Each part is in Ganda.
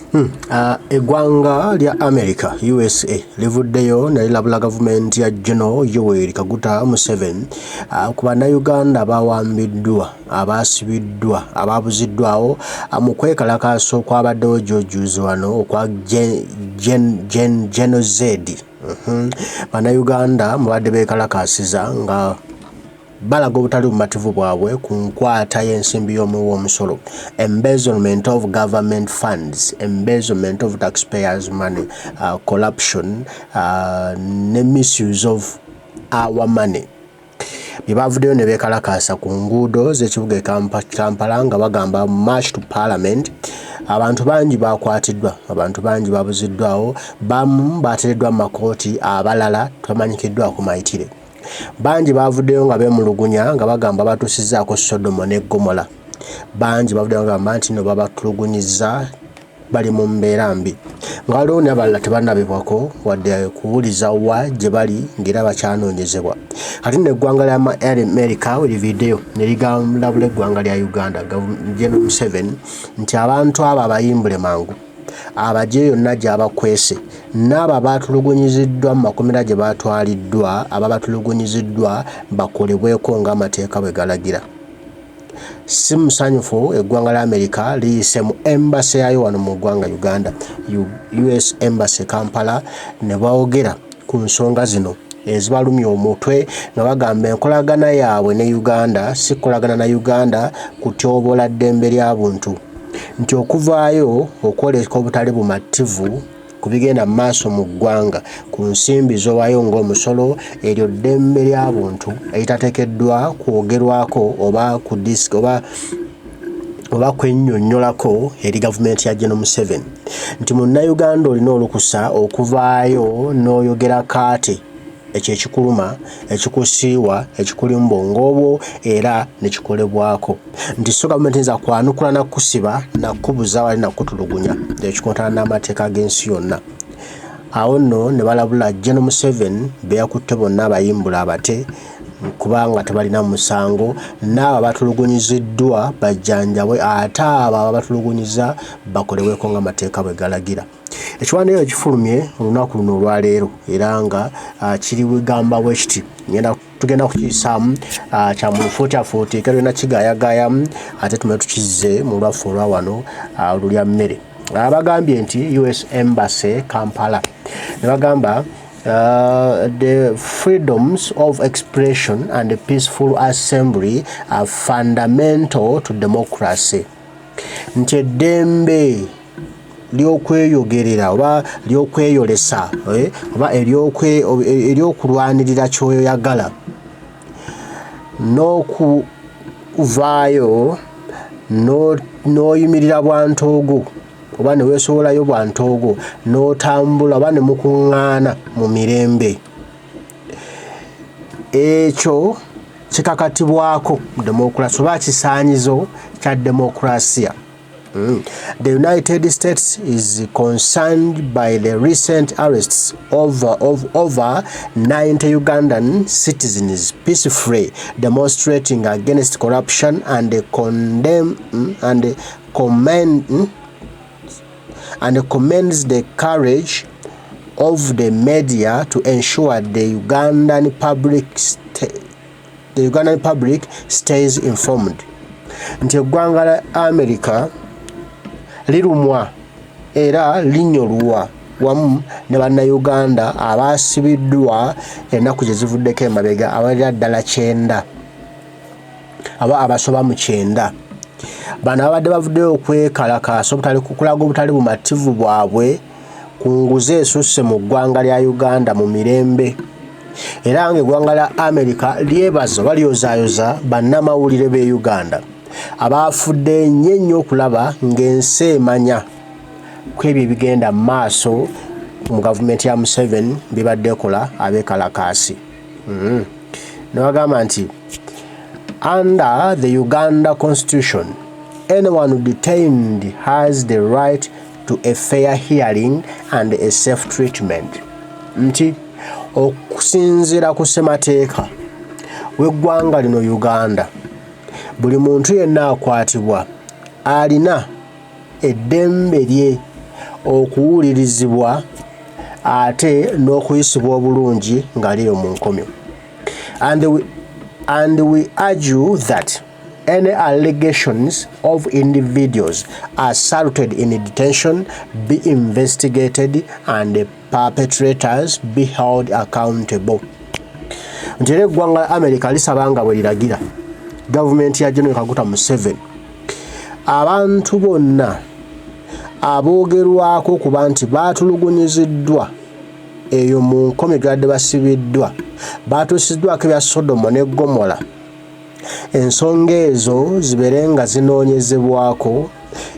Hmm. Uh, eggwanga lya america usa livuddeyo nelilabula gavumenti ya geno yoweri kaguta museven uh, ku bannayuganda bawambiddwa abaasibiddwa ababuziddwawo uh, mu kwekalakaasa okwabaddewo jojuzi wano okwa geno zedi uh-huh. bannayuganda mubadde bekalakaasiza nga balaga obutali bumativu bwabwe ku nkwata y'ensimbi y'omuwi w'omusolo embezzlement of government funds embezzlement of taxpayers money uh, corruption uh, ne misuse of our money bye bavuddeyo ne beekalakaasa ku nguudo z'ekibuga e kampala nga bagamba march to parliament abantu bangi bakwatiddwa abantu bangi babuziddwawo bamu batereddwa mu makooti abalala tamanyikiddwako mayitire Bangi baavuddeyo nga beemulugunya nga bagamba batuusizzaako Sodomo ne Ggomola. Bangi bavuddeyo nga bagamba nti no babatulugunyizza bali mu mbeera mbi nga waliwo nabalala tebanabibwako wadde kuwuliza wa gye bali ng'era bakyanoonyezebwa kati no eggwanga lya amerika livideyo ne ligalabula eggwanga lya uganda gen museven nti abantu abo abayimbule mangu abagye yonna gy'abakwese n'abo abaatulugunyiziddwa mu makomera gye baatwaliddwa aba batulugunyiziddwa bakolebweko ng'amateeka bwe galagira. Si musanyufu eggwanga lya Amerika liyise mu embase yaayo wano mu ggwanga Uganda, US Embassy Kampala ne boogera ku nsonga zino ezibalumya omutwe nga bagamba enkolagana yaabwe ne Uganda si kukolagana na Uganda kutyoboola ddembe lya buntu nti okuvaayo okwoleka obutali bumativu ku bigenda mu maaso mu ggwanga ku nsimbi z'owaayo ng'omusolo eryo ddembe lya buntu eritateekeddwa kwogerwako oba ku disiki oba oba kwennyonnyolako eri gavumenti ya General Museveni nti munnayuganda olina olukusa okuvaayo n'oyogera kaate ekyo ekikuluma ekikusiiwa ekikulimba ng'obwo era ne kikolebwako nti so gavumenti nza kwanukula na kukusiba na kukubuza wali na kukutulugunya ekikontana n'amateeka g'ensi yonna awo nno ne balabula General Museveni be yakutte bonna abayimbula abate kubanga tebalina musango n'abo abatulugunyiziddwa bajjanjabwe ate abo ababatulugunyiza bakolebweko nga amateeka bwe galagira ekiwandiiko kifulumye olunaku luno olwaleero era nga ah, kiri wegamba wekiti ngenda tugenda kukiyisaamu ah, kya mulufuutiafuuti kerina kigayagayamu ate tume tukizze mu lwaffe olwa wano ah, olulya mmere abagambye nti us embassy kampala ne bagamba Uh, the freedoms of expression and the peaceful assembly are fundamental to democracy nti eddembe ly'okweyogerera oba ly'okweyolesa eh, oba ery'okulwanirira kyoyagala n'okuvaayo n'oyimirira bwantogo oba ne weesowolayo bwa ntoogo n'otambula oba ne mukuŋŋaana mu mirembe ekyo kikakatibwako demokulasi oba kisaanyizo kya demokulasiya Mm. The United States is concerned by the recent arrests of, of over 90 Ugandan citizens peacefully demonstrating against corruption and condemn mm, and commend and commends the courage of the media to ensure the Ugandan public the Ugandan public stays informed nti eggwanga la America lirumwa era linyolwa wamu ne bannayuganda abaasibiddwa ennaku gye zivuddeko emabega abalira ddala kyenda aba abasoba mu kyenda bano ababadde bavuddeyo okwekalakaasa obutali kukulaga obutali bumativu bwabwe ku nguzi esusse mu ggwanga lya uganda mu mirembe era nga eggwanga lya amerika lyebaza oba lyozaayoza bannamawulire b'e uganda abaafudde nnyo ennyo okulaba ng'ensi emanya ku ebyo ebigenda mu maaso mu gavumenti ya museveni bibadde ekola abekalakaasi mm-hmm. newagamba nti under the uganda constitution anyone detained has the right to a fair hearing and a safe treatment nti okusinziira ku ssemateeka w'eggwanga lino uganda buli muntu yenna akwatibwa alina eddembe lye okuwulirizibwa ate n'okuyisibwa obulungi nga liri mu nkomyo and we, and we urge you that any allegations of individuals assaulted in detention be investigated and perpetrators be held accountable nti era eggwanga la america lisaba nga bwe liragira gavumenti ya general kaguta museven abantu bonna aboogerwako okuba nti baatulugunyiziddwa eyo mu nkomi gadde basibiddwa baatuusiddwako ebya sodomo ne gomola ensonga ezo zibeere nga zinoonyezebwako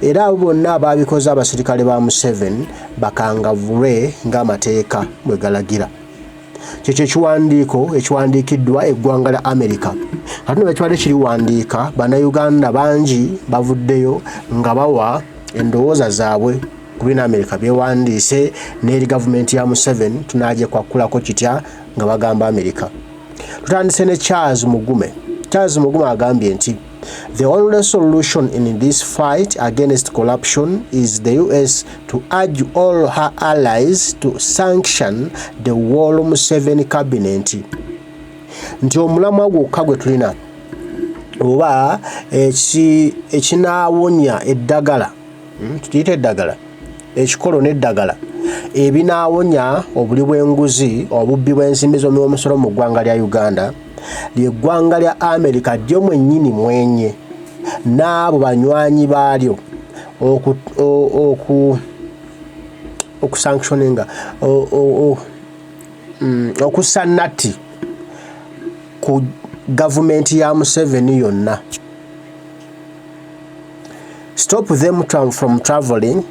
era abo bonna abaabikoze abasirikale ba Museveni bakangavulwe ng'amateeka bwe galagira kye kyekiwandiiko ekiwandiikiddwa eggwanga lya amerika kati nebakibadde kiriwandiika bannayuganda bangi bavuddeyo nga bawa endowooza zaabwe ku bina amerika byewandiise n'eri gavumenti ya museveni tunagyekwakulako kitya nga bagamba amerika tutandise ne charles mugume charles mugume agambye nti the only solution in this fight against corruption is the us to urge all her allies to sanction the wall museven cabinet nti omulamwa gwokka gwe tulina oba ekinawonya eddagala hmm, tukiyita eddagala ekikolo n'eddagala ebinaawonya obuli bw'enguzi obubbi bw'ensimbi z'omuwomusolo mu ggwanga lya uganda lyeggwanga lya amerika lyo mwennyini mwenye n'abo banywanyi baalyo okusanctioninga mm, okussa natti ku gavumenti ya museveni yonna stop them from traveling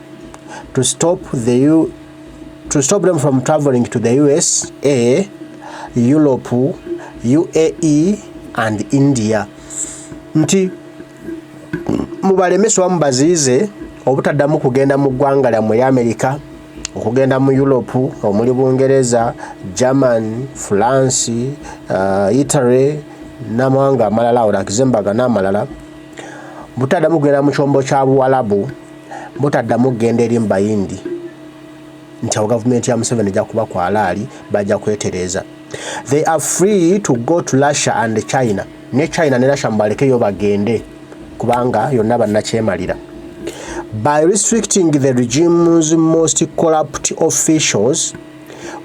to stop the U to stop them from traveling to the USA, Europe, UAE and India nti mubalemeswa mubaziize obutaddamu kugenda mu ggwanga lyammwe lya Amerika okugenda mu Europe omuli Bungereza, German, France, uh, Italy n'amawanga amalala awo nakize mbaga n'amalala butaddamu kugenda mu kyombo kya buwalabu butaddamu kugenda eri mubayindi nti awo gavumenti ya museveni ejja kuba ku alaali bajja kwetereeza they are free to go to russia and china ne china ne russia mubalekeyo bagende kubanga yonna bannakyemalira by restricting the regime's most corrupt officials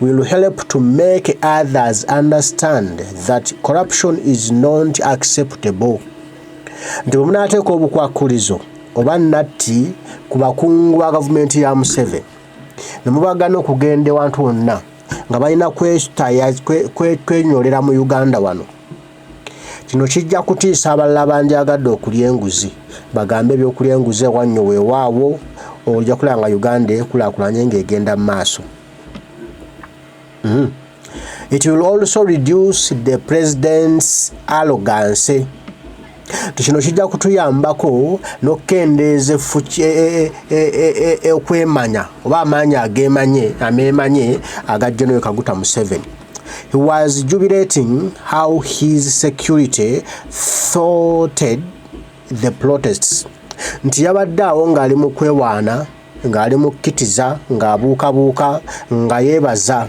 will help to make others understand that corruption is not acceptable nti bwe munaateeka obukwakulizo oba natti ku bakungu ba gavumenti ya museveni ne mubagana okugenda ewantu wonna nga balina kwenyolera mu uganda wano Kino kijja kutiisa abalala bandyagadde okulya enguzi bagambe ebyokulya enguzi ewannyo weewaawo ojja kulaba nga uganda ekulaakulanye ng'egenda mu maaso hmm. it will also reduce the president's arrogancy kino kijja kutuyambako n'okukendeeza e, e, e, e okwemanya oba amaanyi ageemanye ameemanye agajja noyo kaguta museveni He was jubilating how his security thwarted the protests nti yabadde awo ng'ali mu kwewaana ng'ali mu kkitiza ng'abuukabuuka nga yeebaza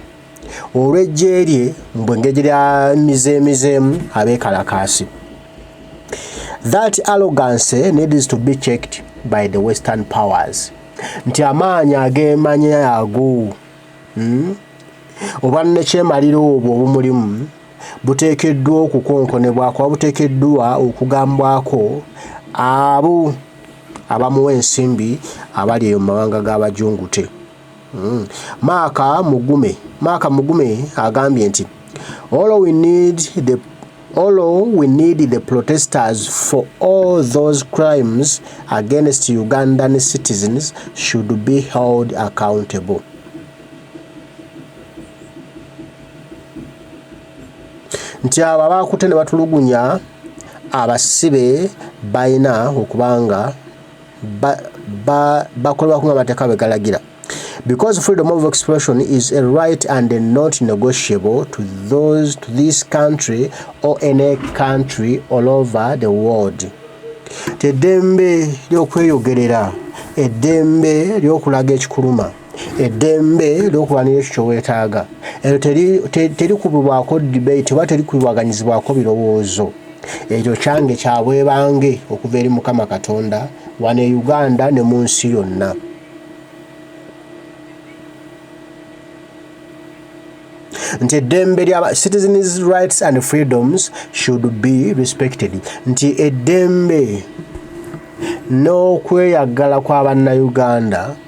olw'eggye lye mbwe ngeri lya mizeemizeemu abeekalakaasi that arrogancy needs to be checked by the western powers nti amaanyi ageemanya ago Hmm? obwannekyemalira obwo obumulimu buteekeddwa okukonkonebwako oba buteekeddwa okugambwako abo abamuwa ensimbi abali eyo mu mawanga g'abajungute hmm. maaka mugume maaka mugume agambye nti all we need the Olo we need the protesters for all those crimes against Ugandan citizens should be held accountable. Nti abo abaakute ne batulugunya abasibe balina okuba nga bakola bakuba amateeka bwe galagira because freedom of expression is a right and a not negotiable to those to this country or any country all over the world teddembe ly'okweyogerera eddembe ly'okulaga ekikuluma eddembe lyokulwanira ekyo kyowetaaga eryo terikubibwako debate oba terikubibwaganyizibwako birowoozo ekyo kyange kyabwebange okuva eri mukama katonda wano e uganda ne mu nsi yonna nti eddembe lya citizens rights and freedoms should be respected nti eddembe n'okweyagala kwa bannauganda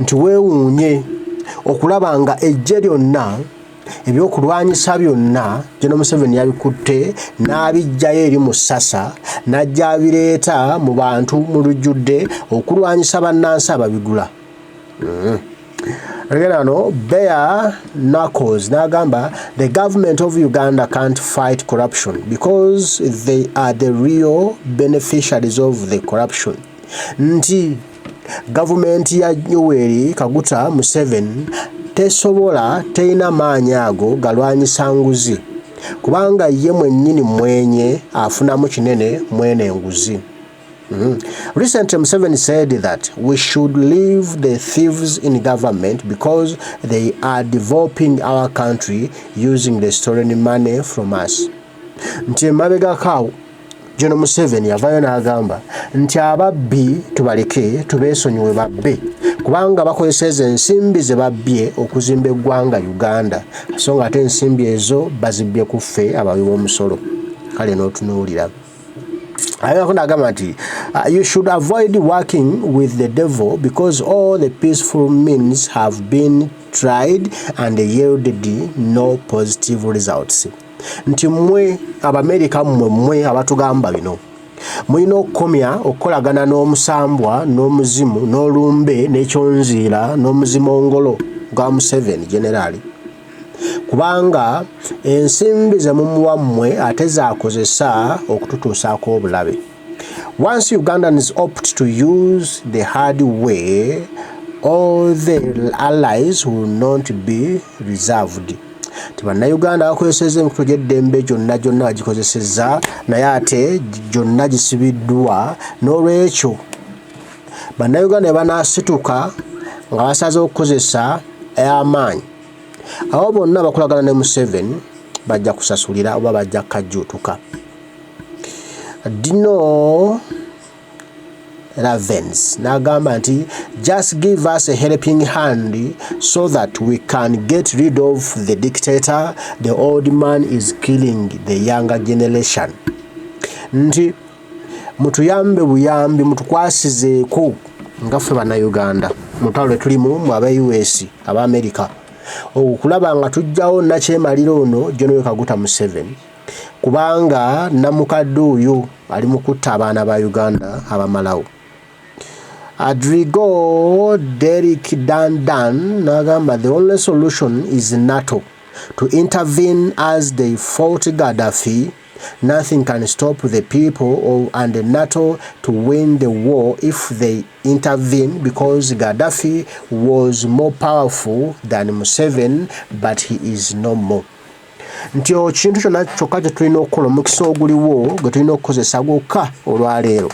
nti weewuunye okulaba nga eggye lyonna ebyokulwanyisa byonna geno museveni yabikutte n'abiggyayo eri mu ssasa n'ajja abireeta mu bantu mu lujjudde okulwanyisa bannansi ababigula mm. Again, no, bare knuckles. Nagamba, the government of Uganda can't fight corruption because they are the real beneficiaries of the corruption. Nti Gavumenti ya Yoweri Kaguta Museveni tesobola terina maanyi ago galwanyisa nguzi kubanga ye mwennyini mwenye afunamu kinene mwene nguzi. Mm -hmm. Recently Museveni said that we should leave the thieves in government because they are developing our country using the stolen money from us. Nti emabegako awo Jono Museveni yavayo n'agamba nti ababbi tubaleke tubeesonyiwe babbe kubanga bakozesa ezo ensimbi ze babbye okuzimba eggwanga Uganda so nga ate ensimbi ezo bazibbye ku ffe abawi b'omusolo kale n'otunuulira ayonako nagamba nti uh, you should avoid working with the devil because all the peaceful means have been tried and yielded no positive results nti mwe abamerika mmwe mmwe abatugamba bino mulina okukomya okukolagana n'omusambwa n'omuzimu n'olumbe n'ekyonziira n'omuzimu ongolo gwa museveni generaali kubanga ensimbi ze mumuwa mmwe ate zaakozesa okututuusaako obulabe Once Ugandans opt to use the hard way, all the allies will not be reserved. Ti bannayuganda bakozesezza emikutu gy'eddembe gyonna gyonna bagikozesezza naye ate gyonna gisibiddwa n'olwekyo bannayuganda banaasituka nga basaze okukozesa amaanyi abo bonna bakolagana ne museveni bajja kusasulira oba bajja kajjuutuka dino ravens n'agamba nti just give us a helping hand so that we can get rid of the dictator the old man is killing the younger generation nti mutuyambe buyambi mutukwasizeeko nga ffe bannayuganda mutalo lwe tulimu mu aba us aba america okulaba nga tujjawo nakyemalira ono jonowekaguta museveni kubanga namukadde oyo ali mu kutta abaana ba uganda abamalawo adrigo derik dandan nagamba the only solution is nato to intervene as they fought gaddafi nothing can stop the people of, and the nato to win the war if they intervene because gaddafi was more powerful than museven but he is no more nti ekintu kyonna kyokka kye tulina okukola omukisa oguliwo gwe tulina okukozesa gwokka olwaleero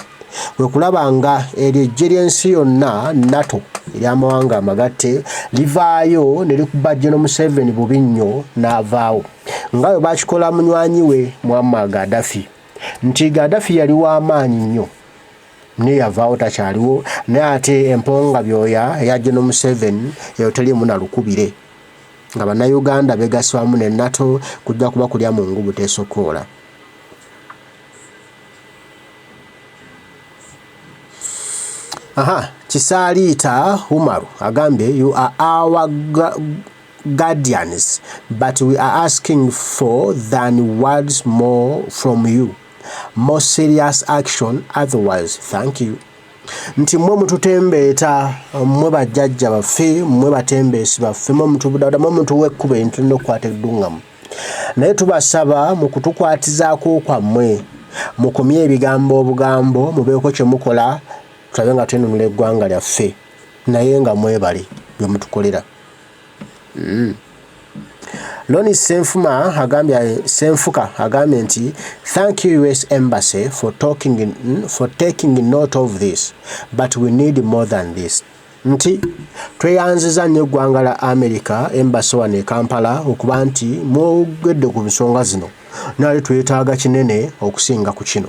kwe kulaba nga eryo ejje ly'ensi yonna nato ery'amawanga amagatte livaayo ne likuba geno museveni bubi nnyo n'avaawo nga bwe bakikola munywanyi we mwamma gadafi nti gadafi yali w'amaanyi nnyo naye yavaawo takyaliwo naye ate emponga byoya eya geno museveni eyo teriimu na lukubire nga bannayuganda begaswamu ne nato kujja kuba kulya mu ngu butesokoola aha kisaaliita umaru agambye you are our guardians but we are asking for than words more from you more serious action otherwise thank you nti mwe mututembeeta mwe bajjajja baffe mwe batembeesi baffe mwe mutubudabuda mwe mutuwa ekkuba entulina okukwata edduŋŋamu naye tubasaba mu kutukwatizaako kwammwe mukomye ebigambo obugambo mubeeko kye mukola tulabe nga twenunula eggwanga lyaffe naye nga mwebale bye mutukolera Mm. Loni Senfuma agambye Senfuka agambye nti thank you US embassy for talking in, for taking note of this but we need more than this nti tweyanziza nnyo eggwanga la America embassy wano e Kampala okuba nti mwogedde ku nsonga zino naye twetaaga kinene okusinga ku kino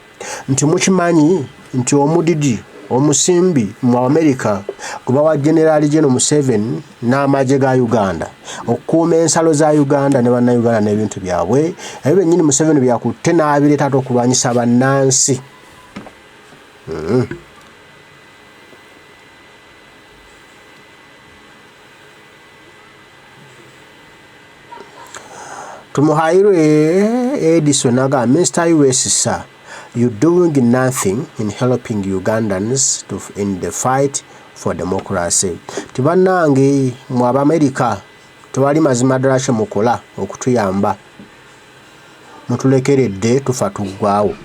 Nti mukimanyi nti omudidi omusimbi mu Amerika gubawa Generali Geno Museven n'amagye ga Uganda okukuuma ensalo za Uganda ne bannayuganda n'ebintu byabwe ebyo byennyini Museven byakutte n'abireeta ate okulwanyisa bannansi. Mm -hmm. Tumuhairwe Edison agamba Mr US sir you doing nothing in helping Ugandans to in the fight for democracy ti banange mu America tewali mazima ddala kye mukola okutuyamba mutulekeredde tufa tuggwawo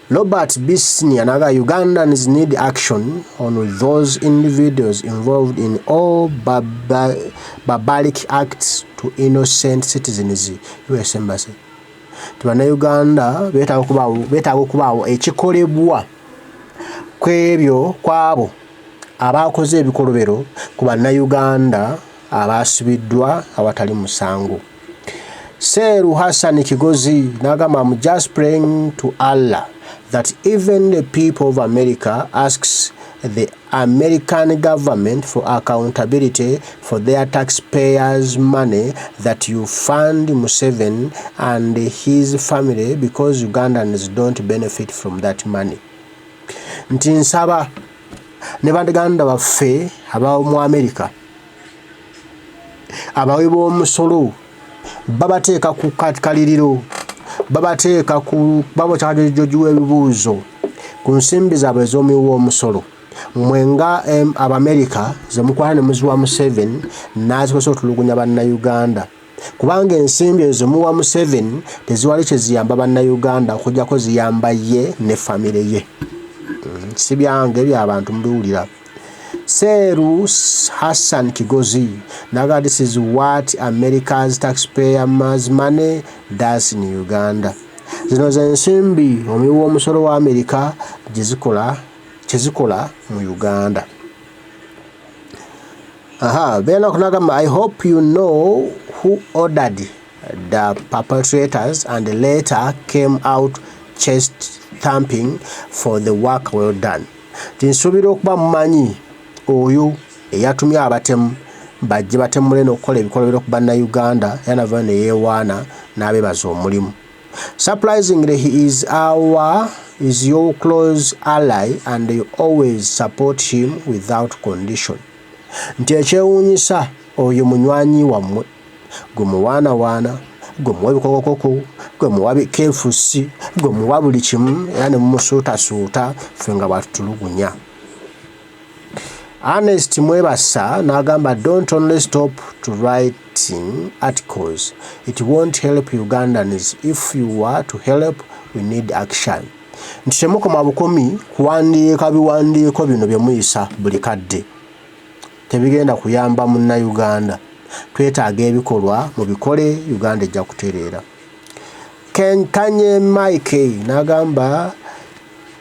Robert B. Senior and other Ugandans need action on those individuals involved in all barbaric acts to innocent citizens US Embassy. Uganda beetaaga okubaawo ekikolebwa kw'ebyo kw'abo abaakoze ebikolobero ku Bannayuganda abaasibiddwa awatali musango Seeru Hassan Kigozi n'agamba am just praying to Allah that even the people of America asks the American government for accountability for their taxpayers money that you fund Museven and his family because Ugandans don't benefit from that money nti nsaba ne bandaganda baffe abamu America abawi b'omusolo babateeka ku kaliriro babateeka ku babokyagyogiwa ebibuuzo ku nsimbi zaabwe ez'omuwi w'omusolo mwe nga abamerika ze mukwana ne muziwa museven n'azikozesa otulugunya bannayuganda kubanga ensimbi ezo zemuwa museven teziwali kyeziyamba bannauganda okujjako ziyamba ye ne famire ye mm, si byange byabantu mubiwulira seeru hassan kigozi naga this is what america's taxpayer mas money das in uganda zino zensimbi omuwi w'omusolo wa amerika gyezikola kyezikola mu uganda Aha, then okunagamba I hope you know who ordered the perpetrators and later came out chest thumping for the work well done. Tinsuubira okuba mumanyi oyo eyatumye abatemu bajje batemule n'okukola ebikolobero ku bannayuganda era navayo ne yeewaana n'abeebaza omulimu. Surprisingly, he is our is your close ally and you always support him without condition. Nti ekyewuunyisa oyo munywanyi wammwe gwe muwaanawaana gwe muwa ebikokokoko gwe muwa bikefusi gwe muwa buli kimu era ne mumusuutasuuta ffe nga bwatutulugunya. Ernest Mwebasa n'agamba don't only stop to writing articles it won't help Ugandans if you were to help we need action nti temukoma bukomi kuwandiika biwandiiko bino bye muyisa buli kadde tebigenda kuyamba munnayuganda twetaaga ebikolwa mu bikole Uganda ejja kutereera Kanye Mike n'agamba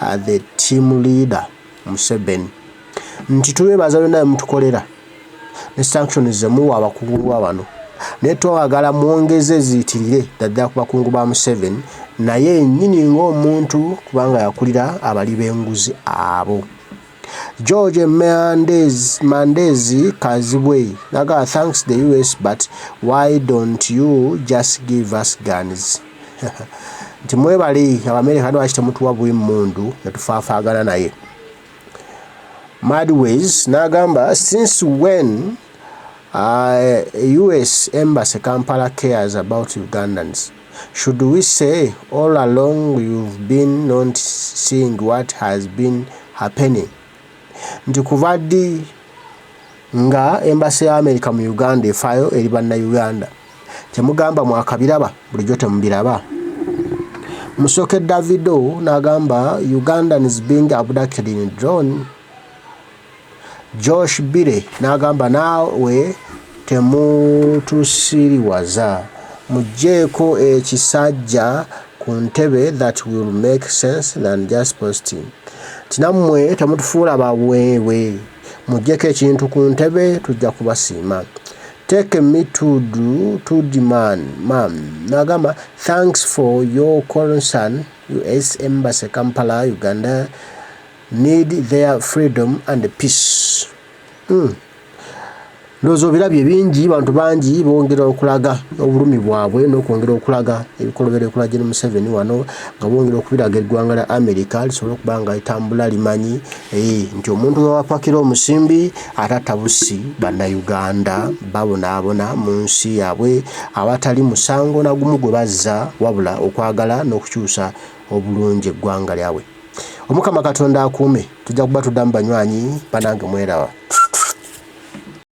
uh, the team leader Museveni nti tubebaza byonna byemutukolera ne sanctions zemuwa abakungu ba bano naye twagala mwongeze ziyitirire ddaddala ku bakungu ba Museveni naye nyini ng'omuntu kubanga yakulira abali b'enguzi abo George Mandezi, Mandezi Kazibwe naga thanks the US but why don't you just give us guns nti mwebale abamerika lwaki temutuwa bwe mmundu netufaafaagana naye madways n'agamba since when uh, us embassy kampala cares about ugandans Should we say all along you've been not seeing what has been happening nti kuva ddi nga embassy ya America mu Uganda efaayo eri banna Uganda kyemugamba mwakabiraba bulijjo temubiraba musoke Davido nagamba Ugandans being abducted in drone Josh Bire n'agamba naawe temutusiriwaza mujjeeko ekisajja ku ntebe that will make sense than just posting nti nammwe temutufuula baweewe mujjeko ekintu ku ntebe tujja kubasiima take me to do to demand mam nagamba thanks for your concern us embassy kampala uganda need their freedom and peace mm. Ndowooza obirabye bingi bantu bangi bongera okulaga obulumi bwabwe n'okwongera okulaga ebikolobero ekola Gen Museveni wano nga bongera okubiraga eggwanga lya Amerika lisobole okuba nga litambula limanyi eh, nti omuntu wewapakira omusimbi atatta bussi bannayuganda babonaabona mu nsi yaabwe awatali musango nagumu gwe bazza wabula okwagala n'okukyusa obulungi eggwanga lyabwe. Omukama katonda akuume tujja kuba tuddamu banywanyi banange mwerawa.